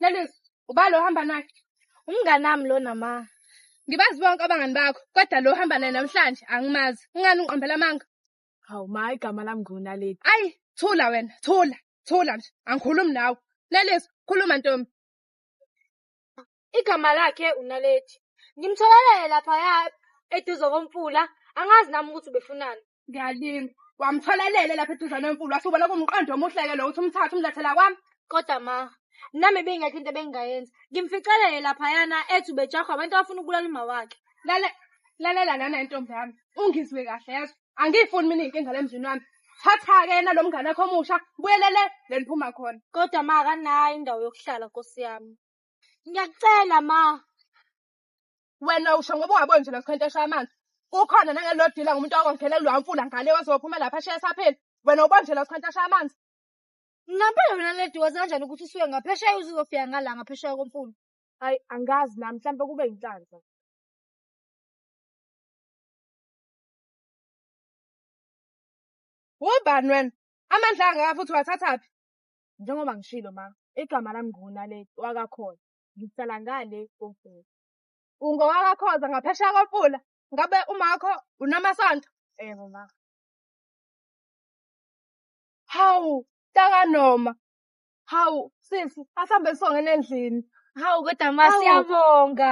Lelizwe, ubani lo ohamba naye? Umngani wami lona ma. Ngibazi bonke abangani bakho, kodwa lo ohamba naye namhlanje angimazi. Ungani ungiqambela amanga? Hawu ma, igama lami nguNaledi. Ayi, thula wena, thula, thula nje. Angikhulumi nawe. Lelizwe, khuluma ntombi. Igama lakhe uNaledi. Ngimtholele laphaya eduze komfula, angazi nami ukuthi ubefunani. Ngiyalinga. Wamthola elele lapha eduzane wemfulu wasubona kumqondo omuhle-ke lo uthi umthathe umlethela kwami. Kodwa ma, nami beyingekho into ebengingayenza. Ngimficelele laphayana ethi ubejahwa abantu abafuna ukubulala umawakhe. Lale lalela lana intombi yami. Ungizwe kahle yezwa. Angiyifuni mina inkinga la emzini wami. Thatha-ke yena lo mngane wakho omusha, buyelele le niphuma khona. Kodwa ma akanayo indawo yokuhlala nkosi yami. Ngiyakucela ma. Wena usho ngoba ungaboni nje lokukhenteshwa amanzi. Kukhona nangelodila ngumuntu okonkhele kuloya mfula ngale ozophuma lapha ashiye esaphila. Wena ubona nje lokukhenteshwa amanzi. Ngampela wena lady wazi kanjani ukuthi usuke ngaphesheya uze uzofika ngala ngaphesheya komfula. Hayi angazi nami mhlawumbe kube inhlanhla. Ubani wena? Amandla angaka futhi wathathaphi? Njengoba ngishilo ma, igama lami nguNaledi wakaKhona. ngihlala ngale komfula. Ungowakakhoza ngaphesheya komfula? Ngabe umakho unamasonto? Yebo ma. Hawu, taka noma. Hawu, sisi, asambe songena endlini. Hawu kodwa ma siyabonga.